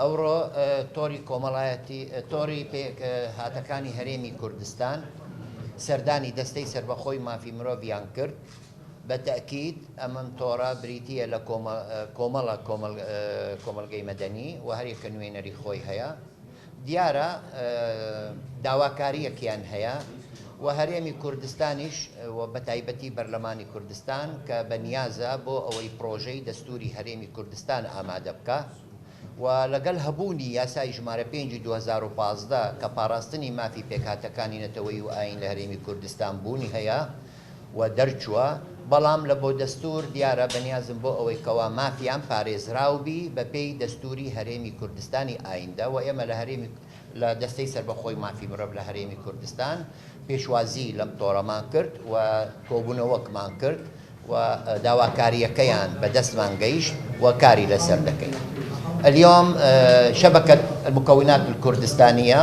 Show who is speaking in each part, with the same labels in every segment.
Speaker 1: ئەوڕۆ تۆڕی کۆمەڵایەتی تۆڕی پێک هاتەکانی هەرێمی کوردستان سەردانی دەستەی سەربەخۆی مافی مرۆڤیان کرد بە تەئکید ئەمم تۆڕە بریتیە لە کۆمەڵە کۆمەڵگەی مەدەنی و هەریەکە نوێنەری خۆی هەیە. دیارە داواکارییەکیان هەیە و هەرێمی کوردستانیش و بەتایبەتی بەرلەمانی کوردستان کە بە نیازە بۆ ئەوەی پڕۆژەی دەستووری هەرێمی کوردستان ئامادە بکا و لەگەڵ هەبوونی یاسای ژمارە پێنجی دوو هەزار و پازدە کە پاراستنی مافی پێکهاتەکانی نەتەوەیی و ئایین لە هەرێمی کوردستان بوونی هەیە، و دەرچووە، بەڵام لە بۆ دەستوور دیارە بەنیازن بۆ ئەوەی کەوا مافیان پارێزراو بی بە پێی دەستووری هەرێمی کوردستانی ئایندە و ئێمە لە هەرێمی لە دەستەی سەربەخۆی مافی مرۆڤ لە هەرێمی کوردستان پێشوازی لەم تۆڕەمان کرد و کۆبوونەوەکمان کرد و داواکارییەکەیان بە دەستمان گەیشت و کاری لەسەر دەکەین. الیوم شبکە المکونات الکردستانیە،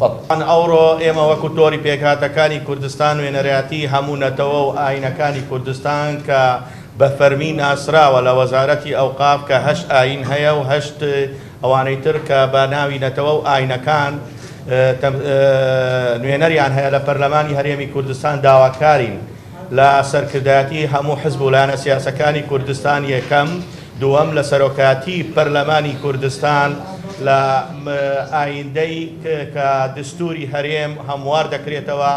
Speaker 1: قەتعەن ئەوڕۆ
Speaker 2: ئێمە وەکو تۆری پێکهاتەکانی کوردستان نوێنەرایەتی هەموو نەتەوە و ئاینەکانی کوردستان کە بە فەرمی ناسراوە لە وەزارەتی ئەوقاف کە هەشت ئاین هەیە و هەشت ئەوانەی تر کە بە ناوی نەتەوە و ئاینەکان نوێنەریان هەیە لە پەرلەمانی هەرێمی کوردستان داواکارین لە سەرکردایەتی هەموو حزب و لایەنە سیاسەکانی کوردستان یەکەم دووەم لە سەرۆکایەتی پەرلەمانی کوردستان لە ئایندەی کە دستوری هەرێم هەموار دەکرێتەوە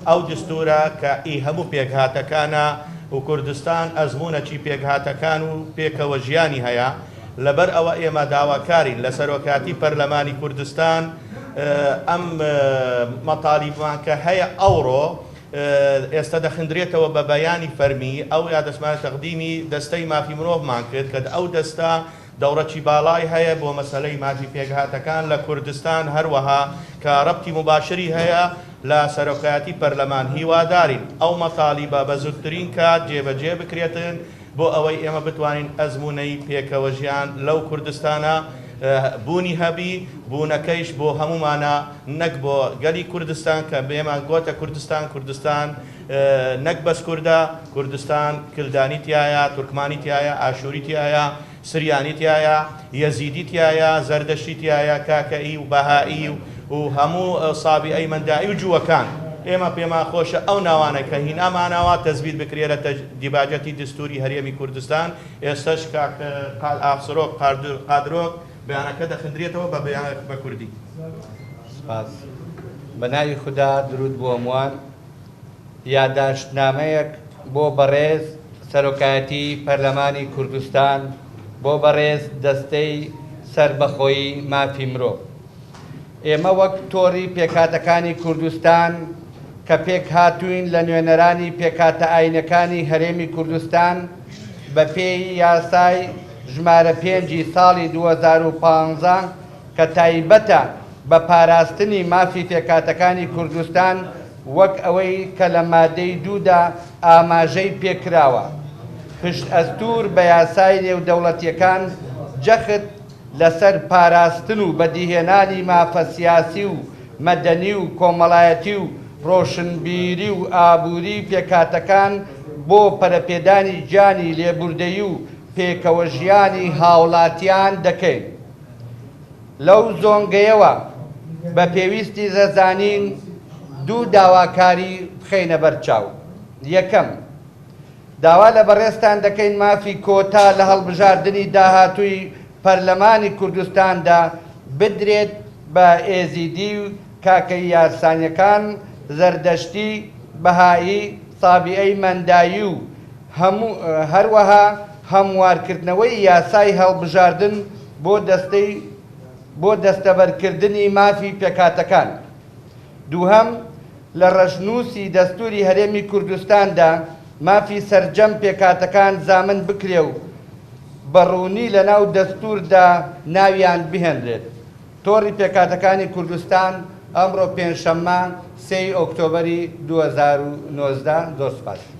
Speaker 2: ئەو دستورە کە ئی هەموو پێکهاتەکانە و کوردستان ئەزمونەکی پێکهاتەکان و پێکەوە ژیانی هەیە لەبەر ئەوە ئێمە داواکارین لە سەرۆکایەتی پەرلەمانی کوردستان ئەم مەتالیبمان کە هەیە ئەوڕۆ ئێستا دەخندرێتەوە بە بەیانی فەرمی، ئەو یادەشمانە تەقدیمی دەستەی مافی مرۆڤمان کرد کە ئەو دەستە دەوڕکی باڵای هەیە بۆ مەسەلەی مافی پێکهاتەکان لە کوردستان هەروەها کە ڕەبتی موباشری هەیە لە سەرۆکایەتی پەرلەمان هیوادارین ئەو مەتالیبە بە زوترین کات جێبەجێ بکرێتن بۆ ئەوەی ئێمە بتوانین ئەزموونەی پێکەوەژیان لەو کوردستانە بوونی هەبی، بوونەکەیش بۆ هەموومانە نەک بۆ گەلی کوردستان کە بێمان گۆتە کوردستان، کوردستان نەک بەس کوردە، کوردستان کلدانی تیایە، تورکمانی تیایە، ئاشووری تیایە، سریانی تیایە، یەزیدی تیایە، زەردەشتی تیایە، کاکەیی و بەهایی و هەموو سابیئەی مەندائی و جووەکان. ئێمە پێمان خۆشە ئەو ناوانە کە هینامانەوە تەسبیت بکرێ لە دیباجەتی دستووری هەرێمی کوردستان. ئێستەش کاک ئاقسرۆک قادرۆک بەیانەکە دەخندرێتەوە بە بەیانەک بە کوردی. سپاس.
Speaker 3: بە ناوی خودا دروود بۆ هەمووان. یاداشتنامەیەک بۆ بەڕێز سەرۆکایەتی پەرلەمانی کوردستان، بۆ بەڕێز دەستەی سەربەخۆی مافی مرۆڤ. ئێمە وەک تۆڕی پێکهاتەکانی کوردستان کە پێکهاتووین لە نوێنەرانی پێکهاتە ئایینەکانی هەرێمی کوردستان بەپێی یاسای ژمارە پێنجی ساڵی دوو هەزار و پازدە کە تایبەتە بە پاراستنی مافی پێکهاتەکانی کوردستان وەک ئەوەی کە لە مادەی دوو دا ئاماژەی پێکراوە، پشتئەستوور بە یاسای نێودەوڵەتییەکان جەخت لەسەر پاراستن و بەدیهێنانی مافە سیاسی و مەدەنی و کۆمەڵایەتی و ڕۆشنبیری و ئابووری پێکهاتەکان بۆ پەرەپێدانی گیانی لێبوردەیی و پێکەوەژیانی هاوڵاتیان دەکەین. لەو زۆنگەیەوە بە پێویستی زەزانین دوو داواکاری بخەینە بەر چاو. یەکەم، داوا لە بەڕێزتان دەکەین مافی کۆتا لە هەڵبژاردنی داهاتووی پەرلەمانی کوردستاندا بدرێت بە ئێزیدی و کاکەیی یارسانیەکان، زەردەشتی، بەهائی، سابیئەی مەندائی و. هەروەها هەموارکردنەوەی یاسای هەڵبژاردن بۆ دەستەی بۆ دەستەبەرکردنی مافی پێکهاتەکان. دووهەم، لە ڕەشنووسی دەستووری هەرێمی کوردستاندا مافی سەرجەم پێکهاتەکان زامن بکرێ و بە ڕوونی لەناو دەستووردا ناویان بهێنرێت. تۆڕی پێکهاتەکانی کوردستان، ئەمڕۆ پێنجشەممە سێ ی ئۆکتۆبەری دوو هەزار و نۆزدە. زۆر سوپاس.